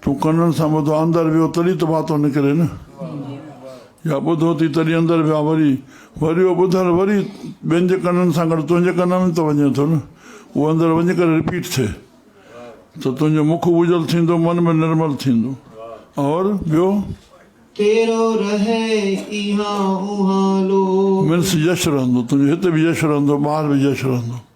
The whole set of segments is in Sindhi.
تون ڪنن سان ٻڌو اندر ويو تڏهن ته باتون نڪري نه يا ٻڌو ٿي تڏهن اندر ويا وري وري اهو ٻڌل وري ٻين جي ڪنن سان گڏ تنهنجي ڪن ۾ ته وڃي ٿو نه اهو اندر وڃي ڪري رپيٽ ٿئي ته تنهنجو مک وجل ٿيندو من به نرمل ٿيندو اور ٻيو تيرو رهي ايهان اوهان لوڪ. مينس يش رهندو تنهنجو هت به يش رهندو ٻاهر به يش رهندو.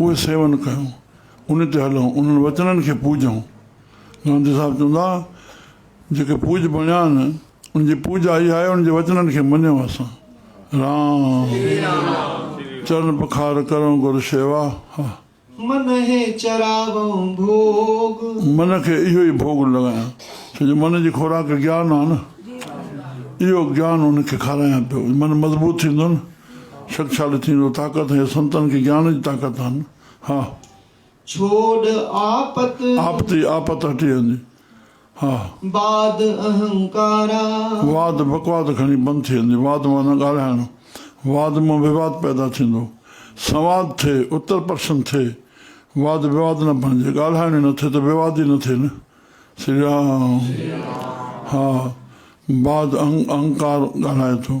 اهي سيون ڪيون، انهي تي هلون، انهن وچنن کي پوجون. گانڌي صاحب چوندا جيڪي پوڄ بڻيا آهن، ان جي پوڄا اها آهي ان جي وچنن کي مڃيون اسان. رام چرن پکار ڪرون گر شيوا. من هي چراون ڀوڳ. من کي اهو ئي ڀوڳ لڳايان، ڇو جو من جي خوراڪ گيان آهي نه، اهو گيان ان کي کارايان پيو، من مضبوط ٿيندو نه. شڪشالي ٿيندو طاقت ۽ سنتن کي گيان جي طاقت آهن ها. ڇوڙ آپت. آپت ئي آپت هٽي ويندي ها. واد اهنڪارا. واد بڪواد کڻي بند ٿي ويندي واد معنيٰ ڳالهائڻ واد مان وواد پيدا ٿيندو سنواد ٿئي اتر پرشن ٿئي واد وواد نه بڻجي ڳالهائڻ ئي نه ٿئي ته وواد ئي نه ٿئي نه سري رام ها. واد اهنڪار ڳالهائي ٿو.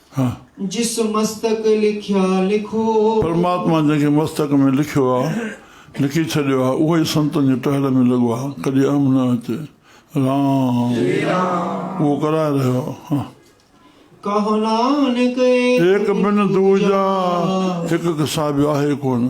ها. جس مستڪ لکيا لکو. پرماتما جنهن کي مستڪ ۾ لکيو آ، لکي ڇڏيو آ، اهو ئي سنتن جي ٽهل ۾ لڳو آ، ڪڏهن اهم نه اچي. رام اهو ڪرائي رهيو آ، ها. ڪهو نانڪ ايڪ بن ڏوجا. هڪ کان سواء ٻيو آهي ڪونه.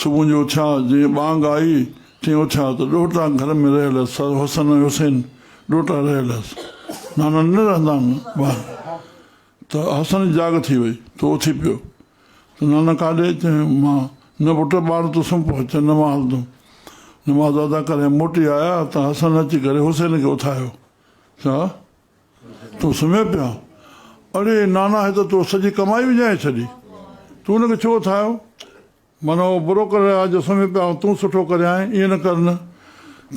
صبح جو اٿيا، جيئن ٻانگ آئي، تيئن اٿيا ته ڏوهٽا گهر ۾ رهيل هيس، سر حسن ۽ حسين ڏوهٽا رهيل هيس، نانا نه رهندا آهن ٻاهر، ته حسن جي جاڳ ٿي وئي، تو اٿي پيو، ته نانا ڪاڏي، چيائين مان، نه پٽ ٻاهر تون سمهه پوء، چيائين نه مان هلندم، نماز ادا ڪري موٽي آيا ته حسن اچي ڪري حسين کي اٿايو، چا؟ تون سمهين پيو آن؟ اڙي نانا هي ته تو سڄي ڪمائي وڃائي ڇڏي. تون هن کي ڇو اٿايو؟ من اهو برو ڪري رهيو آهي جو سمهي پيو آهيان، تون سٺو ڪري آئين، ائين نه ڪر نه.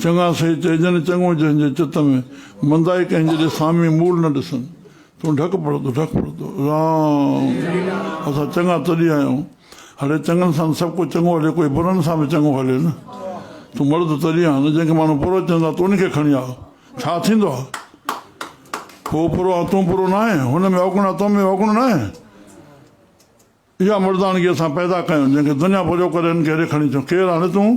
چڱا سهي چئي ڄن چڱو جنهن جي چت ۾ مندائي ڪنهن جي ڏي سامي مول نه ڏسن. تون ڍڪ پڙتو ڍڪ پڙتو. رام! اسان چڱا تڏهن آهيون. هڙي چڱن سان سڀ ڪو چڱو هلي ڪوئي برن سان به چڱو هلي نه. تون مرد تڏهن آهين نه جنهن کي ماڻهو برو چوندا تو ان کي کڻي آء. ڇا ٿيندو آهي؟ هو پرو ۽ تون پرو ناهين، هن ۾ اوگڻ ۽ تو ۾ اوگڻ ناهي. اها مردانگي اسان پيدا ڪيون، جنهن کي دنيا پريو ڪري هن کي هيڏي کڻي اچيون. ڪير آهين تون؟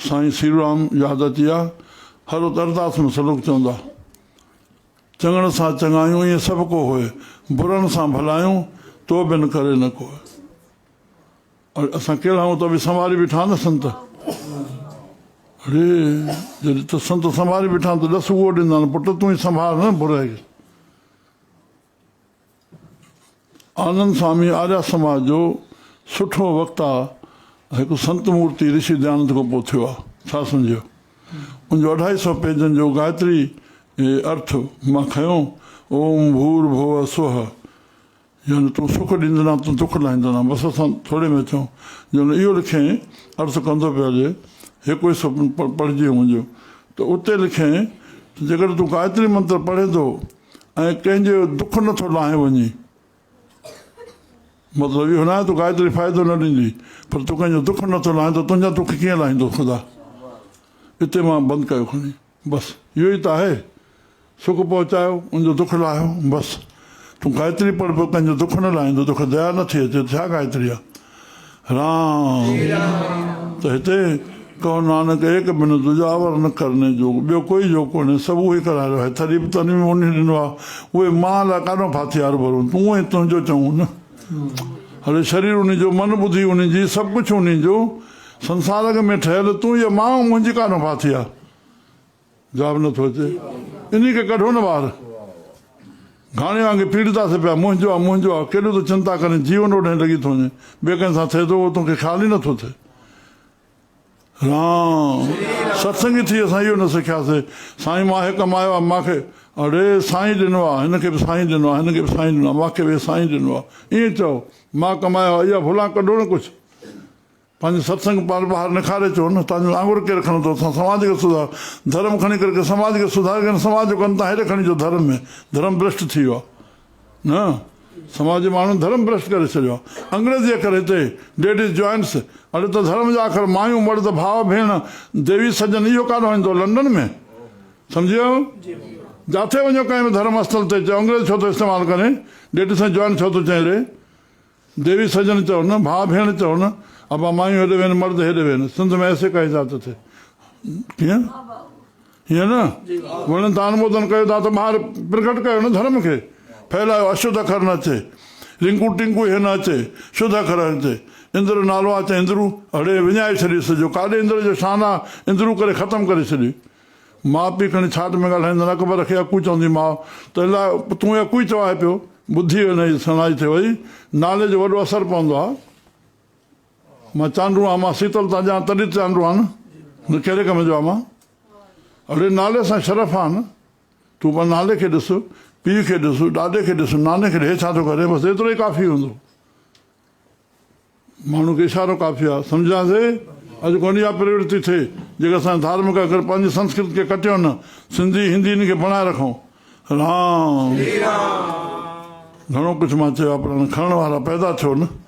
سائين سيرورام يادتيا حضرت ارداس ۾ سلوڪ چوندا، چڱڻ سان چڱايون ائين سڀ ڪو هوء، برن سان ڀلايون تو بن ڪري نه ڪوء. اسان ڪهڙا آهيون ته به سنڀاري بيٺا آهن نه سنت. اڙي جڏهن ته سنت سنڀاري بيٺا آهن ته ڏس اهو ڏيندان پٽ تون ئي سنڀار نه برهه کي. آنند سوامي آريا سماج جو سٺو وقت آ هڪ سنت مورتي رشي ديانند کان پوء ٿيو آ ڇا سمجهيو ان جو اڍائي سئو پيجن جو گائتري ارٿ مان کنيو اوم ڀور ڀوء سوهه يعني تون سک ڏيندنا تون دک لاهيندنا بس اسان ٿوري ۾ ٿيون جو ان اهو لکين ارٿ ڪندو پيو هجي هڪ حصو پڙهجي هو منهنجو ته اتي لکين ته جيڪڏهن تون گائتري منتر پڙهين ٿو ۽ ڪنهن جو دک نه ٿو لاهين وڃي. مطلب اهو ناهي تو گائتري فائدو نه ڏيندي پر تو ڪنهن جو دک نه ٿو لاهين ته تنهنجا دک ڪيئن لاهيندو خدا. اتي مان بند ڪيو کڻي بس اهو ئي ته آهي سک پهچايو ان جو دک لاهيو بس. تون گائتري پڙهه پر ڪنهن جو دک نه لاهيندو توکي ديا نه ٿي اچي ته ڇا گائتري آ. رام ته هتي ڪهو نانڪ ايڪ بنو دوجا ور نه ڪرني جوڳ ٻيو ڪوئي جو ڪونهي سڀ اهو ئي ڪرائي رهيو آهي ٿڏي به تنهن ۾ اونهي ڏنو آهي اهي مان لاء ڪاڏون ڦاٿي هر ڀرون تون ۽ تنهنجو چئون نه هڙي شرير انهي جو من ٻڌي انهي جي سڀ ڪجهه انهي جو سنسار اڳ ۾ ٺهيل تون يا مان منهنجي ڪاڏون ڦاٿي آهي. جواب نه ٿو اچي انهي کي ڪڍو نه ٻاهر. گهاڻي وانگي پيڙتا سي پيا منهنجو آ منهنجو آ ڪيڏو ته چنتا ڪرين جيون اوڏهين لڳي ٿو وڃي ٻئي ڪنهن سان ٿئي ٿو اهو تون کي خيال ئي نه ٿو ٿئي. رام ستسنگي ٿي اسان اهو نه سکياسي سائين مان هي ڪمايو آ مان کي اڙي سائين ڏنو آ هن کي به سائين ڏنو آ هن کي به سائين ڏنو آ مان کي به سائين ڏنو آ ائين چئو مان ڪمايو آ اها ڀلان ڪڍو نه ڪجهه پنهنجي ستسنگ پال ٻاهر نکاري اچو نه تهان جون آڱر ڪير کڻندو تهان سماج کي سڌار ڌرم کڻي ڪري ڪي سماج کي سڌاري ڪن سماج جو ڪن تهان هيڏي کڻي جو ڌرم ۾ ڌرم برشٽ ٿي ويو آهي نه سماج جي ماڻهن ڌرم برشٽ ڪري ڇڏيو آهي انگريزي اکر هتي ڊيڊيز جوائنٽس اڏ ته ڌرم جا اکر مايون مرد ڀاء ڀيڻ ديوي سڄن اهو ڪاڏهو ايندو لنڊن ۾ سمجهي ويو جاٿي وڃو ڪنهن به ڌرم اسٿل تي چئو انگريز ڇو ٿو استعمال ڪرين ڊيڊيز ۽ جوائنٽ ڇو ٿو چئين ري. ديوي سڄڻ چئو نه، ڀاء ڀيڻ چئو نه، ابا مايون هيڏي وين مرد هيڏي وين، سنڌ ۾ ايسي ڪاهي ذات اٿئي. ڪيئن؟ هيئن نه، وڻن تان انمودن ڪيو ٿا ته ٻاهر پرگهٽ ڪيو نه ڌرم کي، ڦهلايو، اشڌ اکر نه اچي، رنڪو ٽنڪو هي نه اچي، شڌ اکر اچي، اندر نالو آ چئي اندرو، اڙي وڃائي ڇڏيس جو ڪاڏي اندر جو شان آ، اندرو ڪري ختم ڪري ڇڏي. ماء پيء کڻي ڇاٽ ۾ ڳالهائيندن، اڪبر کي اڪو چوندي ماء ته الا تون هي اڪو ئي چوائي پيو. ٻڌي هن جي سڻائي تي وئي نالي جو وڏو اثر پوندو آهي. مان چانڊو آهيان، مان سيتل تان ڄاڻ تڏهن چانڊو آهيان نه نه ڪهڙي ڪم جو آهيان مان. اڙي نالي سان شرف آهي نه. تون پنهنجي نالي کي ڏس، پيء کي ڏس، ڏاڏي کي ڏس، ناني کي ڏس هي ڇا ٿو ڪري بس ايترو ئي ڪافي هوندو. ماڻهو کي اشارو ڪافي آهي، سمجهيان سي؟ اڄ ڪو اها پرورتي ٿئي، جيڪر اسان جا ڌارمڪ اکر پنهنجي سنسڪرت کي ڪٽيون نه، سنڌي، هندي ان کي بڻائي رکون. رام. گهڻو ڪجهه مان چيو آهي پر هاڻي کڻڻ وارا پيدا ٿيو نه.